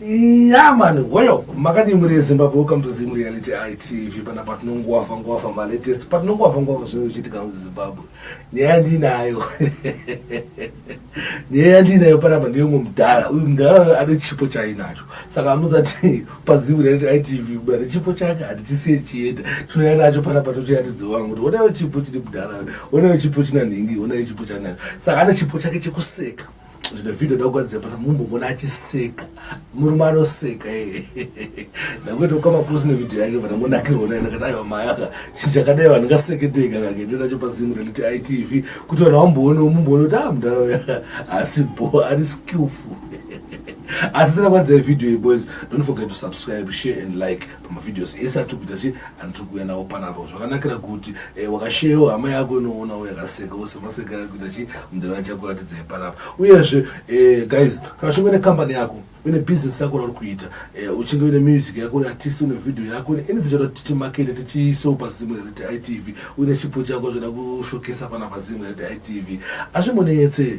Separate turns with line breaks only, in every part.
Yeah, man. Well, makati muri Zimbabwe, welcome to Zim Reality ITV. Pana patinongowafa ngowafa ma latest. Patinongowafa ngowafa zvinochitika mu Zimbabwe. Nyaya ndinayo. nyaya yandiinayo panapa ndeyomwe mudhara uyu mudhara uyo ane chipo chaainacho saka anoudza ti pazimu raiti itv bane chipo chake hatichisiye chienda tinouya nacho panapa totoyatidze wangu kuti onayo chipo chiri mudhara onayo chipo china nhingi onayo chipo chanacho saka ane chipo chake chekuseka zvine vhideo da kugadzira pana mumbomona achiseka murume anoseka ndangoita kukama kusi nevideo yake vana monakirona ina kadai vamayaka chichakadai vanhu ngaseketeka kakende nacho pazimu raliti itv kuti vanhu vamboone mumboone kuti a mudhara uya asi bo ari skillful asi sina kwanzai video ye boys don't forget to subscribe share and like pamavideos ese atiri kuita sei anotiri kuuya nawo panapo zvakanakira kuti eh, wakasheyewo hama yako inoonawo yakaseka ose maseka ari kuita chii mudhara chakuratidzai panapa uyezve eh, guys kana uchinge une kambani yako une business yako rauri kuita eh, uchinge une music yako une artist une video yako une anything choda kuti timakete tichiisewo pazimwe rekuti itv uine chipo chako choda kushokesa panapa zimwe rekuti itv azvimboneyetse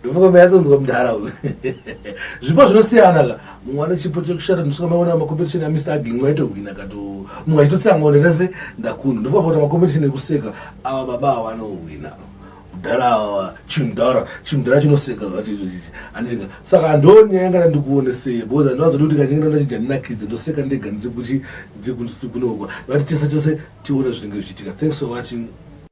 ndofunga mayatsonzwa mudhara uyu zvipo zvinosiyana ka mumwe ane chipo chekushata ndosvika maona macompetition ya mr agling waitohwina kato mumwe aitotsangawo ndenda se ndakunda ndofunga pakuta macompetition ekuseka awa baba awa anohwina mudhara awa chimudhara chimudhara chinoseka zvachizvozvizvi andinga saka andoni yangana ndikuone sei because andiwanzoti kuti kachingana ndachija ndinakidze ndoseka ndega ndichikuchi ndichikunoka vati tese tese tione zvinenge zvichiitika thanks for watching